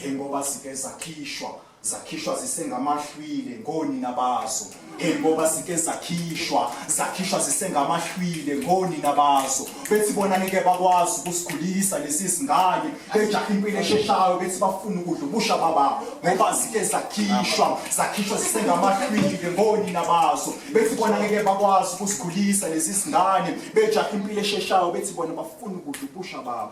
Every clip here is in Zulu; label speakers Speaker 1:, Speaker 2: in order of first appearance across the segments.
Speaker 1: njengoba sike zakhishwa zakhishwa zisengamahlwile ngonina bazo njengoba sike zakhishwa zakhishwa zisengamahlwile ngonina bazo bethi bona ngeke bakwazi ukusikhulisa lesi singane bejaha impilo esheshayo bethi bafuna ukudla ubusha baba ngoba sike zakhishwa zakhishwa zisengamahlwile ngonina bazo bethi bona ngeke bakwazi ukusikhulisa lesi singane bejaha impilo esheshayo bethi bona bafuna ukudla ubusha baba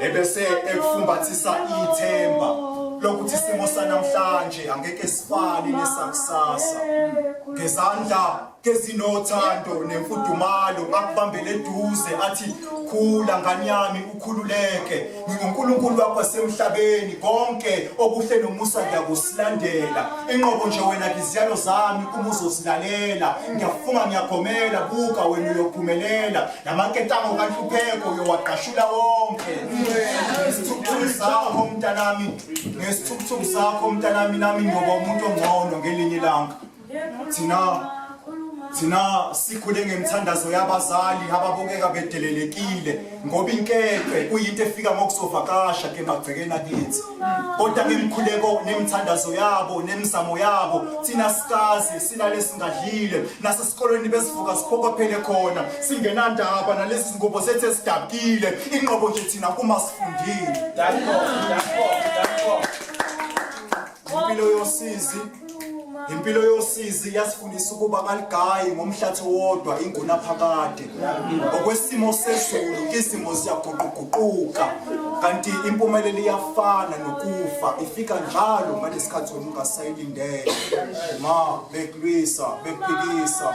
Speaker 1: ebese ekufumbathisa ithemba lokuthi isimo sanamhlanje angeke sifane nesakusasa ngezandla kezinothando nemfudumalo akubambele eduze athi khula ngani yami ukhululeke nginguNkulunkulu wakho wasemhlabeni konke okuhle nomusa ngiyakusilandela inqobo nje wena ngiziyalo zami uma uzosilalela ngiyafunga ngiyagomela buka wena uyophumelela namaketango kanhlupheko uyowagqashula wonke ngesithukuthuku sakho mntanami ngesithukuthuku sakho mntanami nami ngiyoba umuntu ongcono ngelinye ilanga thina thina sikhule ngemthandazo yabazali ababukeka bedelelekile ngoba inkece kuyinto efika ngokusovakasha ke magcekeni akithi kodwa ngemkhuleko nemthandazo yabo nemizamo yabo thina sikazi silale singadlile nasesikolweni besivuka siphokophele khona singenandaba nalezi zingubo zethu esidabukile inqobo nje thina kuma sifundile impilo yosizi impilo yosizi yasifundisa ukuba kaligayi ngomhlathi wodwa ingunaphakade ngokwesimo sezulu isimo siyaguquguquka kanti impumelelo iyafana nokufa ifika njalo ngalesi khathi wena ungasayilindele ma bekulwisa bekuphikisa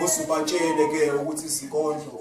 Speaker 1: kuze ubatshele-ke ukuthi izinkondlo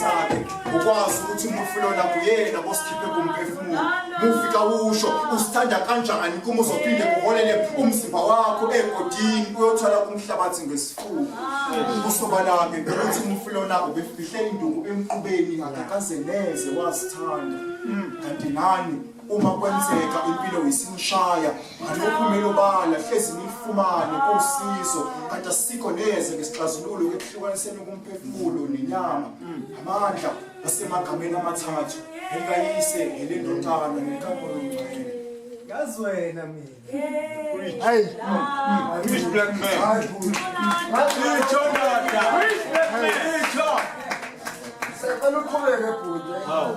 Speaker 1: sakhe ukwazi ukuthi umufi lona kuyena bosikhiphe kumphefumulo mufi kawusho usithanda kanjani kuma uzophinde kuholele umzimba wakho egodini uyothwala kumhlabathi ngesifuba kusobala-ke ukuthi umufi lona ubefihle induku emqubeni akakaze neze wasithanda kanti nani uma kwenzeka impilo isimshaya kanti uphumela obala hlezi nilifumane kusizo kanti asikho neze ngesixazululo kwehlukaniseni kumphefumulo nenyama amandla asemagameni amathathu elikayise elendodana nenkampolo yomngcwele ngazi wena
Speaker 2: mina hayi rich black man hayi ngitsho ndoda rich black man
Speaker 3: ngitsho sekuqhubeke bhuti hawu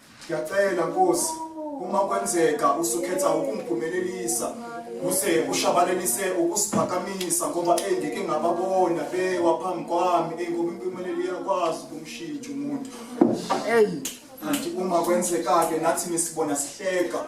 Speaker 1: Ngiyacela Nkosi uma kwenzeka usukhetha ukungiphumelelisa kuze ushabalalise ukusiphakamisa ngoba engike ngababona bewa phambi kwami eyi ngoba impumelelo iyakwazi ukumshintsha umuntu eyi kanti uma kwenzeka-ke nathi nisibona sihleka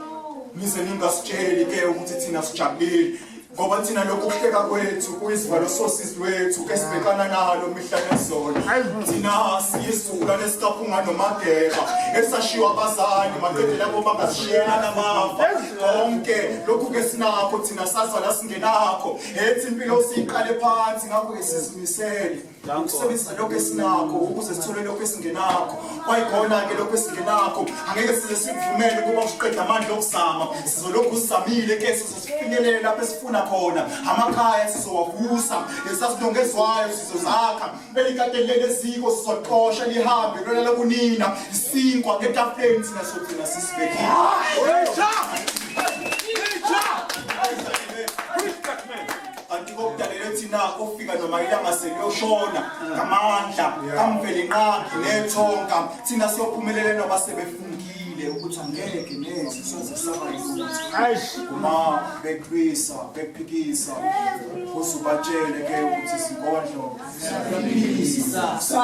Speaker 1: nize ningasitsheli-ke ukuthi thina sijabulile ngoba thina lokhu kuhleka kwethu kuyisivalo sosizi lwethu esibhekana nalo mihla nezolo thina siyisula nesikaphunga nomageba esashiwa abazali madoda labo bangasishiyela namafa konke lokhu ke sinakho thina sazala singenakho ethi impilo siyiqale phansi ngakho esizimisele ukusebenzisa lokho esinakho ukuze sithole lokho esingenakho kwayikhona-ke lokho esingenakho angeke size sikuvumele ukuba usiqede amandla okuzama sizolokhu sizamile ke sizozifinyelele lapho esifuna khona amakhaya sizowavusa lesasilongezwayo sizozakha elikateni leleziko sizoqosha lihambe lona lokunina isinkwa ngetafuleni thina sogcina sisibekile kanti kokudalele thina kofika noma ilanga seliyoshona ngamandla kamveli nqakhe nethonka thina siyophumelela noba sebefungile ukuthi angeke neze soze saba yikuthi uma beqwisa bephikisa kuze ubatshele ke ukuthi sinkondlo siyaphikisa sa